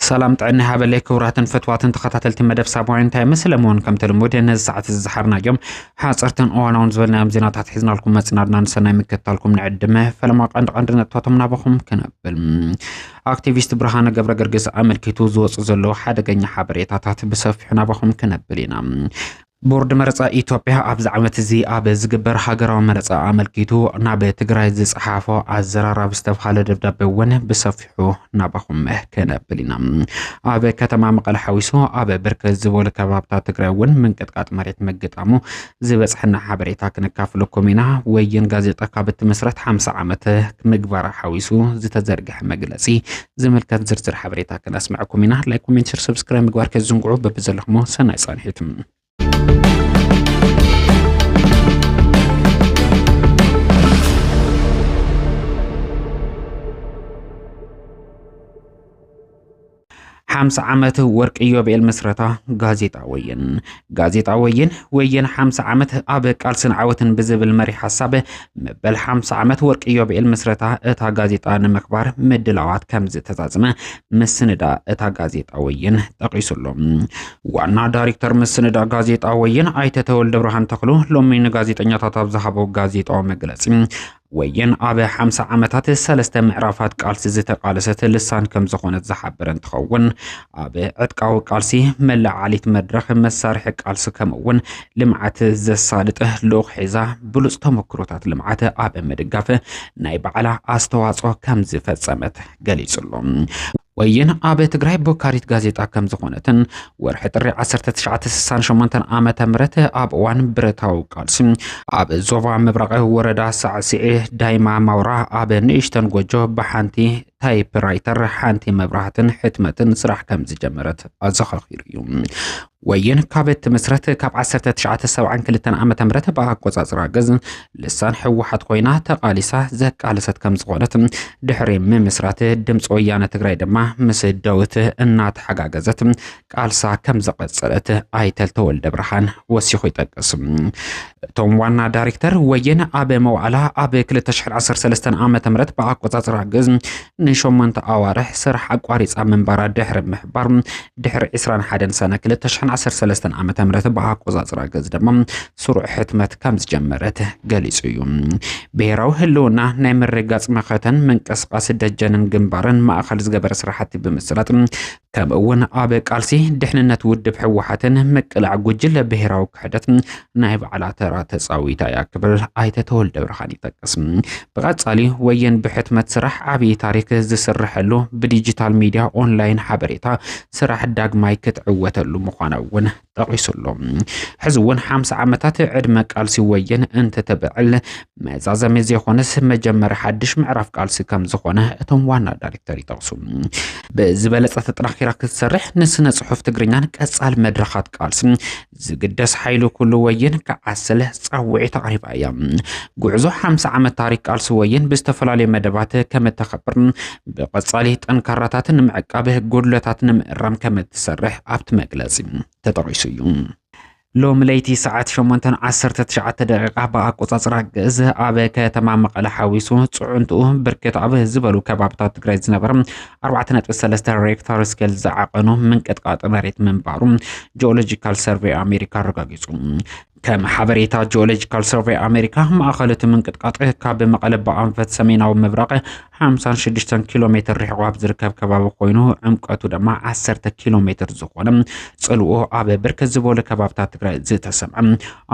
ሰላም ጥዕና ሃበለይ ክቡራትን ፈትዋትን ተኸታተልቲ መደብ ሳባውያን ታይምስ ለመሆን ከምቲ ልሙድ ነዚ ሰዓት እዚ ዝሓርናዮም ሓፀርትን እዋናውን ዝበልናዮም ዜናታት ሒዝናልኩም መፅናድና ንሰናይ ምክትታልኩም ንዕድመ ፈለማ ቀንዲ ቀንዲ ነጥብታቶም ናባኹም ክነብል ኣክቲቪስት ብርሃነ ገብረገርግስ ኣመልኪቱ ዝወፁ ዘለዉ ሓደገኛ ሓበሬታታት ብሰፊሑ ናባኹም ክነብል ኢና። ቦርድ መረፃ ኢትዮጵያ ኣብዚ ዓመት እዚ ኣብ ዝግበር ሃገራዊ መረፃ ኣመልኪቱ ናብ ትግራይ ዝፀሓፎ ኣዘራራብ ዝተብሃለ ደብዳቤ እውን ብሰፊሑ ናባኹም ክነብል ኢና። ኣብ ከተማ መቐለ ሓዊሱ ኣብ ብርክት ዝበሉ ከባብታት ትግራይ እውን ምንቅጥቃጥ መሬት ምግጣሙ ዝበጽሐና ሓበሬታ ክነካፍለኩም ኢና። ወይን ጋዜጣ ካብ እትምስረት ሓምሳ ዓመት ምግባራ ሓዊሱ ዝተዘርግሐ መግለጺ ዝምልከት ዝርዝር ሓበሬታ ክነስምዐኩም ኢና። ላይክ፣ ኮሜንት፣ ሸር፣ ሰብስክራይብ ምግባር ከይትዝንግዑ በብዘለኹሞ ሰናይ ጻንሒት። ሓምሳ ዓመት ወርቂ ኢዮቤል ምስረታ ጋዜጣ ወይን ጋዜጣ ወይን ወይን ሓምሳ ዓመት ኣብ ቃልስን ዓወትን ብዝብል መሪ ሓሳብ መበል ሓምሳ ዓመት ወርቂ ኢዮቤል ምስረታ እታ ጋዜጣ ንምክባር ምድላዋት ከም ዝተዛዝመ ምስንዳ እታ ጋዜጣ ወይን ጠቂሱሎ ዋና ዳይሬክተር ምስንዳ ጋዜጣ ወይን ኣይተ ተወልደ ብርሃን ተኽሉ ሎሚ ንጋዜጠኛታት ኣብ ዝሃቦ ጋዜጣዊ መግለፂ ወይን ኣብ ሓምሳ ዓመታት ሰለስተ ምዕራፋት ቃልሲ ዝተቃለሰት ልሳን ከም ዝኾነት ዝሓበረ እንትኸውን ኣብ ዕጥቃዊ ቃልሲ መለዓሊት መድረኽ መሳርሒ ቃልሲ ከምኡ እውን ልምዓት ዘሳልጥ ልኡኽ ሒዛ ብሉፅ ተመክሮታት ልምዓት ኣብ ምድጋፍ ናይ ባዕላ ኣስተዋፅኦ ከም ዝፈፀመት ገሊፁ ኣሎ። ወይን ኣብ ትግራይ ቦካሪት ጋዜጣ ከም ዝኾነትን ወርሒ ጥሪ 1968 ዓመተ ምህረት ኣብ እዋን ብረታዊ ቃልሲ ኣብ ዞባ ምብራቕ ወረዳ ሳዕስዒ ዳይማ ማውራ ኣብ ንእሽተን ጎጆ ብሓንቲ ታይፕራይተር ሓንቲ መብራህትን ሕትመትን ስራሕ ከም ዝጀመረት ኣዘኻኺሩ እዩ። ወይን ካብ እትምስረት ካብ 1972 ዓ ም ብኣቆፃፅራ ግዝ ልሳን ህወሓት ኮይና ተቓሊሳ ዘቃለሰት ከም ዝኾነት ድሕሪ ምምስራት ድምፂ ወያነ ትግራይ ድማ ምስ ደውት እናተሓጋገዘት ቃልሳ ከም ዘቐፀለት ኣይተል ተወልደ ብርሃን ወሲኹ ይጠቅስ እቶም ዋና ዳይሬክተር ወይን ኣብ መዋዕላ ኣብ 2013 ዓ ም ብኣቆፃፅራ ግዝ ንሸሞንተ ኣዋርሕ ስራሕ ኣቋሪጻ ምንባራ ድሕሪ ምሕባር ድሕሪ 21 ሰነ 2013 ዓ ም ብኣቆጻጽራ ገዝ ድማ ስሩዕ ሕትመት ከም ዝጀመረት ገሊጹ እዩ ብሄራዊ ህልውና ናይ ምርጋጽ መኸተን ምንቅስቃስ ደጀንን ግንባርን ማእኸል ዝገበረ ስራሕቲ ብምስላጥ ከምኡ እውን ኣብ ቃልሲ ድሕንነት ውድብ ህወሓትን ምቅላዕ ጉጅለ ብሄራዊ ክሕደት ናይ ባዕላ ተራ ተፃዊታ እያ ክብል ኣይተ ተወልደ ብርሃን ይጠቅስ። ብቐፃሊ ወየን ብሕትመት ስራሕ ዓብዪ ታሪክ ዝስረሐሉ ብዲጂታል ሚዲያ ኦንላይን ሓበሬታ ስራሕ ዳግማይ ክትዕወተሉ ምዃና እውን ጠቒሱ'ሎ። ሕዚ እውን ሓምሳ ዓመታት ዕድመ ቃልሲ ወየን እንተተብዕል መዛዘሚ ዘይኮነስ መጀመሪ ሓድሽ ምዕራፍ ቃልሲ ከም ዝኾነ እቶም ዋና ዳይሬክተር ይጠቕሱ። ብዝበለፀ ተጠናኺራ ክትሰርሕ ንስነ ፅሑፍ ትግርኛን ቀፃሊ መድረኻት ቃልስን ዝግደስ ሓይሉ ኩሉ ወየን ክዓስል ፃውዒት ኣቕሪባ እያ። ጉዕዞ ሓምሳ ዓመት ታሪክ ቃልሲ ወየን ብዝተፈላለዩ መደባት ከም እተኸብር ብቐጻሊ ጠንካራታት ንምዕቃብ ጎድለታት ንምእራም ከም እትሰርሕ ኣብቲ መግለጺ ተጠቒሱ እዩ። ሎሚ ለይቲ ሰዓት 8:19 ደቂቃ ብኣቆጻጽራ ግእዝ ኣብ ከተማ መቐለ ሓዊሱ ፅዕንትኡ ብርክት ኣብ ዝበሉ ከባብታት ትግራይ ዝነበረ 4.3 ሬክታር ስኬል ዝዓቐኑ ምንቅጥቃጥ መሬት ምንባሩ ጂኦሎጂካል ሰርቬይ ኣሜሪካ ኣረጋጊፁ። ከም ሓበሬታ ጂኦሎጂካል ሰርቬይ ኣሜሪካ ማእኸል እቲ ምንቅጥቃጥ ካብ መቐለ ብኣንፈት ሰሜናዊ ምብራቕ 56 ኪሎ ሜትር ርሕቑ ኣብ ዝርከብ ከባቢ ኮይኑ ዕምቀቱ ድማ 10 ኪሎ ሜትር ዝኾነ ፅልኡ ኣብ ብርክት ዝበሉ ከባብታት ትግራይ ዝተሰምዐ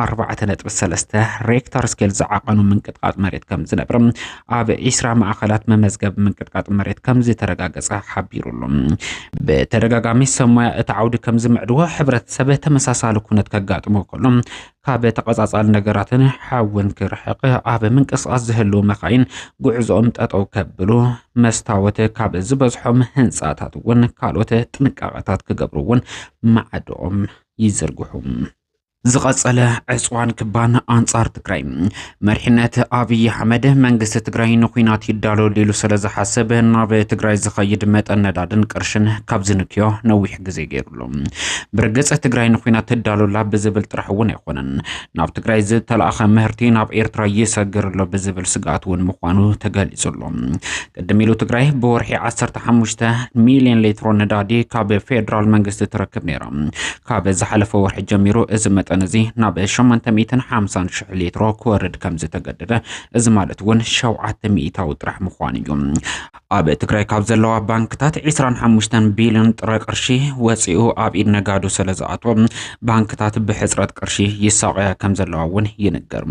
4.3 ሬክታር ስኬል ዝዓቐኑ ምንቅጥቃጥ መሬት ከም ዝነብር ኣብ ዒስራ ማእኸላት መመዝገቢ ምንቅጥቃጥ መሬት ከምዝተረጋገፀ ሓቢሩ ኣሎ። ብተደጋጋሚ ሰብ ሞያ እቲ ዓውዲ ከምዝምዕድዎ ሕብረተሰብ ተመሳሳሊ ኩነት ከጋጥሞ ከሎ ካብ ተቐፃፃሊ ነገራትን ሓውን ክርሕቕ ኣብ ምንቅስቓስ ዝህልው መካይን ጉዕዞኦም ጠጠው ከብሉ መስታወት ካብ ዝበዝሖም ህንፃታት እውን ካልኦት ጥንቃቐታት ክገብሩ እውን ማዕድኦም ይዝርግሑ። ዝቐጸለ ዕፅዋን ክባን ኣንጻር ትግራይ መሪሕነት ኣብዪ ኣሕመድ መንግስቲ ትግራይ ንኩናት ይዳሎ ሊሉ ስለ ዝሓስብ ናብ ትግራይ ዝኸይድ መጠን ነዳድን ቅርሽን ካብ ዝንክዮ ነዊሕ ግዜ ገይሩሉ ብርግጽ ትግራይ ንኩናት ትዳሎላ ብዝብል ጥራሕ እውን ኣይኮነን ናብ ትግራይ ዝተላእኸ ምህርቲ ናብ ኤርትራ ይሰግር ኣሎ ብዝብል ስግኣት እውን ምዃኑ ተገሊጹ ኣሎ ቅድም ኢሉ ትግራይ ብወርሒ 15 ሚሊዮን ሌትሮ ነዳዲ ካብ ፌዴራል መንግስቲ ትረክብ ነይራ። ካብ ዝሓለፈ ወርሒ ጀሚሩ እዚ መጠን እዚ ናብ 850 ሽሕ ሌትሮ ክወርድ ከም ዝተገደደ እዚ ማለት እውን 7 ሚእታዊ ጥራሕ ምዃኑ እዩ። ኣብ ትግራይ ካብ ዘለዋ ባንክታት 25 ቢሊዮን ጥረ ቅርሺ ወፂኡ ኣብ ኢድ ነጋዶ ስለ ዝኣቶ ባንክታት ብሕፅረት ቅርሺ ይሳቐያ ከም ዘለዋ እውን ይንገር።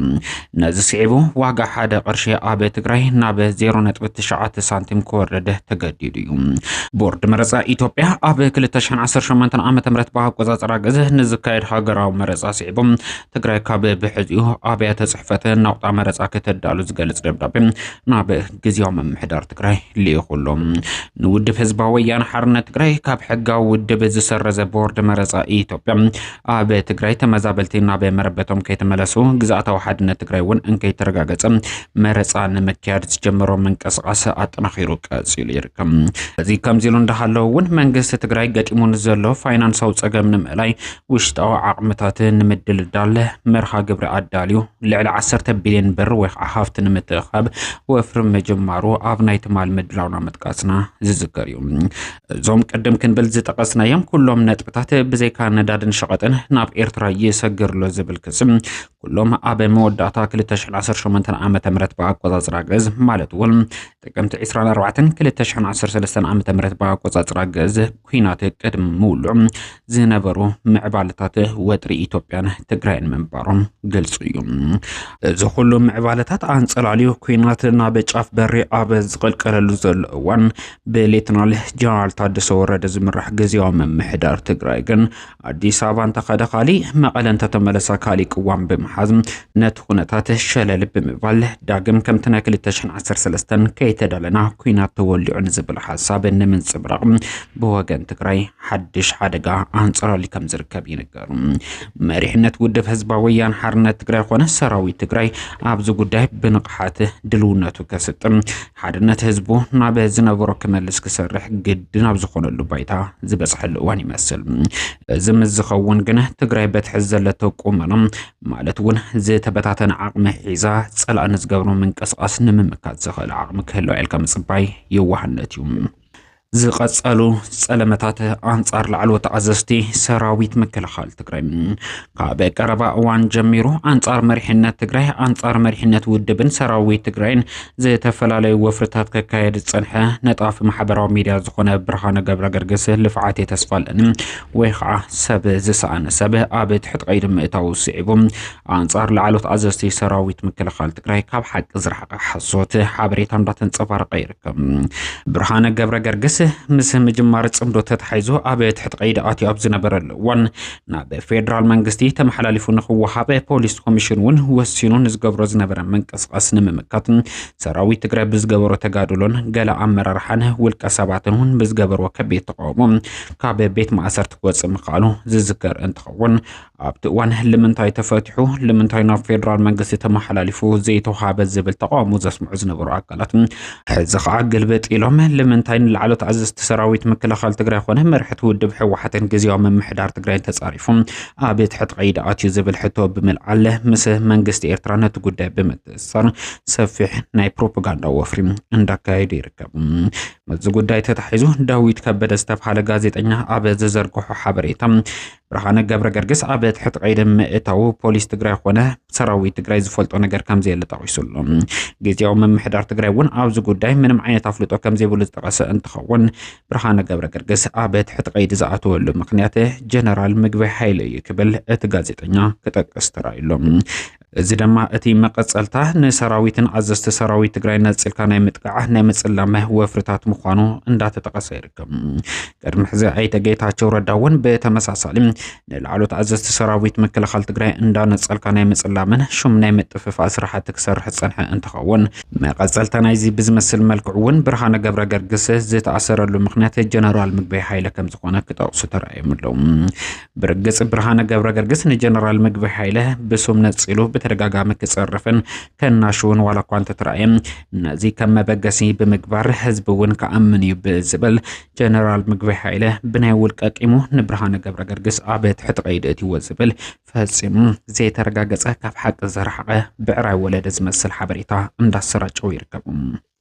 ነዚ ስዒቡ ዋጋ ሓደ ቅርሺ ኣብ ትግራይ ናብ 0.9 ሳንቲም ክወርድ ተገዲዱ እዩ። ቦርድ መረፃ ኢትዮጵያ ኣብ 2018 ዓ ም ብኣቆፃፅራ ግዘ ንዝካየድ ሃገራዊ መረፃ ስዒቦም ትግራይ ካብ ብሕዚኡ ኣብያተ ፅሕፈት ናቁጣ መረፃ ከተዳሉ ዝገልፅ ደብዳቤ ናብ ግዜያዊ ምምሕዳር ትግራይ ልኢኹሎ ንውድብ ህዝባዊ ወያነ ሓርነት ትግራይ ካብ ሕጋዊ ውድብ ዝሰረዘ ቦርድ መረፃ ኢትዮጵያ ኣብ ትግራይ ተመዛበልቲ ናብ መረበቶም ከይተመለሱ ግዝኣታዊ ሓድነት ትግራይ እውን እንከይተረጋገፀ መረፃ ንምክያድ ዝጀመሮ ምንቅስቃስ ኣጠናኺሩ ቀፂሉ ይርከብ። እዚ ከምዚ ኢሉ እንዳሃለወ እውን መንግስቲ ትግራይ ገጢሙ ንዘሎ ፋይናንሳዊ ፀገም ንምእላይ ውሽጣዊ ዓቕምታት ንምድልዳል መርሃ ግብሪ ኣዳልዩ ልዕሊ 10 ቢልዮን ብር ወይ ከዓ ሃፍቲ ንምትእኻብ ወፍሪ ምጅማሩ ኣብ ናይ ትማል ምድላውና ምጥቃስና ዝዝከር እዩ። እዞም ቅድም ክንብል ዝጠቐስናዮም ኩሎም ነጥብታት ብዘይካ ነዳድን ሸቐጥን ናብ ኤርትራ ይሰግርሎ ዝብል ክሲ ኩሎም ኣብ መወዳእታ 218 ዓ ም ብኣቆፃፅራ ግእዝ ማለት እውን ጥቅምቲ 24 213 ዓ ም ብኣቆፃፅራ ግእዝ ኩናት ቅድሚ ምውልዑ ዝነበሩ ምዕባለታት ወጥሪ ኢትዮጵያን ትግራይን ምንባሮም ግልፂ እዩ እዚ ኩሉ ምዕባለታት ኣንፀላልዩ ኩናት ናብ ጫፍ በሪ ኣብ ዝቐልቀለሉ ዘሎ እዋን ብሌተናል ጀነራል ታደሰ ወረደ ዝምራሕ ግዜያዊ ምምሕዳር ትግራይ ግን ኣዲስ ኣበባ እንተኸደ ካሊእ መቐለ እንተተመለሰ ካሊእ ቅዋም ብምሓዝ ነቲ ኩነታት ሸለል ብምባል ዳግም ከምቲ ናይ 2013 ከይተደለና ኩናት ተወሊዑ ንዝብል ሓሳብ ንምንፅብራቕ ብወገን ትግራይ ሓድሽ ሓደጋ ኣንፀላሊ ከም ዝርከብ ይንገሩ። መሪሕነት ውድብ ህዝባዊ ወያነ ሓርነት ትግራይ ኮነ ሰራዊት ትግራይ ኣብዚ ጉዳይ ብንቕሓት ድልውነቱ ከስጥም ሓድነት ህዝቡ ናብ ዝነበሮ ክመልስ ክሰርሕ ግድን ኣብ ዝኾነሉ ባይታ ዝበፅሐሉ እዋን ይመስል። እዚ ምስ ዝኸውን ግን ትግራይ በትሕዝ ዘለቶ ቁመና ማለት እውን ዝተበታተነ ዓቕሚ ሒዛ ፀላእ ንዝገብሮ ምንቅስቓስ ንምምካት ዝኽእል ዓቕሚ ክህልዋ ኢልካ ምፅባይ የዋህነት እዩ። ዝቐጸሉ ጸለመታት ኣንጻር ላዕለዎት ኣዘዝቲ ሰራዊት ምክልኻል ትግራይ ካብ ቀረባ እዋን ጀሚሩ ኣንጻር መሪሕነት ትግራይ ኣንጻር መሪሕነት ውድብን ሰራዊት ትግራይን ዝተፈላለዩ ወፍርታት ከካየድ ዝጸንሐ ነጣፊ ማሕበራዊ ሚድያ ዝኾነ ብርሃነ ገብረ ገርግስ ልፍዓት የተስፋለን ወይ ከዓ ሰብ ዝሰኣነ ሰብ ኣብ ትሕቲ ቀይዲ ምእታው ስዒቡ ኣንጻር ላዕሎት ኣዘዝቲ ሰራዊት ምክልኻል ትግራይ ካብ ሓቂ ዝረሓቐ ሓሶት ሓበሬታ እንዳተንጸባረቐ ይርከብ። ብርሃነ ገብረ ገርግስ ምስ ምጅማር ጽምዶ ተታሒዙ ኣብ ትሕቲ ቀይዲ ኣትዩ ኣብ ዝነበረሉ እዋን ናብ ፌዴራል መንግስቲ ተመሓላሊፉ ንክወሃበ ፖሊስ ኮሚሽን እውን ወሲኑ ንዝገብሮ ዝነበረ ምንቅስቓስ ንምምካት ሰራዊት ትግራይ ብዝገበሮ ተጋድሎን ገለ ኣመራርሓን ውልቀ ሰባትን እውን ብዝገበርዎ ከቢድ ተቃውሞ ካብ ቤት ማእሰርቲ ክወፅእ ምክኣሉ ዝዝከር እንትኸውን ኣብቲ እዋን ልምንታይ ተፈቲሑ ልምንታይ ናብ ፌደራል መንግስቲ ተመሓላሊፉ ዘይተውሃበ ዝብል ተቃውሞ ዘስምዑ ዝነበሩ ኣካላት ሕዚ ከዓ ግልብጥ ኢሎም ልምንታይ ንላዕሎት ኣዘዝቲ ሰራዊት ምክልኻል ትግራይ ኮነ መርሕቲ ውድብ ህወሓትን ግዜያዊ ምምሕዳር ትግራይን ተፃሪፎም ኣብ ትሕቲ ቀይዲ ኣትዩ ዝብል ሕቶ ብምልዓል ምስ መንግስቲ ኤርትራ ነቲ ጉዳይ ብምትእስሳር ሰፊሕ ናይ ፕሮፓጋንዳ ወፍሪ እንዳካየዱ ይርከቡ። ምስዚ ጉዳይ ተታሒዙ ዳዊት ከበደ ዝተብሃለ ጋዜጠኛ ኣብ ዝዘርግሖ ሓበሬታ ብርሃነ ገብረገርግስ ኣብ ትሕቲ ቀይዲ ምእታዉ ፖሊስ ትግራይ ኮነ ሰራዊት ትግራይ ዝፈልጦ ነገር ከምዘየለ ጠቒሱ ኣሎ። ግዜያዊ ምምሕዳር ትግራይ እውን ኣብዚ ጉዳይ ምንም ዓይነት ኣፍልጦ ከምዘይብሉ ዝጠቐሰ እንትኸውን ብርሃነ ገብረገርግስ ኣብ ትሕቲ ቀይዲ ዝኣተወሉ ምክንያት ጀነራል ምግበይ ሓይለ እዩ ክብል እቲ ጋዜጠኛ ክጠቅስ ተራእዩ ኣሎ። እዚ ደማ እቲ መቐጸልታ ንሰራዊትን ኣዘዝቲ ሰራዊት ትግራይ ነጽልካ ናይ ምጥቃዕ ናይ ምጽላመ ወፍርታት ምዃኑ እንዳተጠቐሰ ይርከብ። ቅድሚ ሕዚ ኣይተ ጌታቸው ረዳ እውን ብተመሳሳሊ ንላዕሎት ኣዘዝቲ ሰራዊት ምክልኻል ትግራይ እንዳነጸልካ ናይ ምጽላምን ሹም ናይ ምጥፍፋእ ስራሕቲ ክሰርሕ ዝጸንሐ እንትኸውን መቐጸልታ ናይዚ ብዝመስል መልክዑ እውን ብርሃነ ገብረ ገርግስ ዝተኣሰረሉ ምክንያት ጀነራል ምግበይ ሃይለ ከም ዝኾነ ክጠቕሱ ተራእዮም ኣለዉ። ብርግጽ ብርሃነ ገብረ ገርግስ ንጀነራል ምግቢ ሓይለ ብሱም ነጺሉ ብተደጋጋሚ ክጸርፍን ከናሽውን ዋላ እኳ እንተተረኣየ ነዚ ከም መበገሲ ብምግባር ህዝቢ እውን ክኣምን እዩ ብዝብል ጀነራል ምግቢ ሓይለ ብናይ ውልቀ ቂሙ ንብርሃነ ገብረ ገርግስ ኣብ ትሕቲ ቀይዲ እትዎ ዝብል ፈጺሙ ዘይተረጋገጸ ካብ ሓቂ ዘረሓቐ ብዕራይ ወለደ ዝመስል ሓበሬታ እንዳሰራጨው ይርከቡ።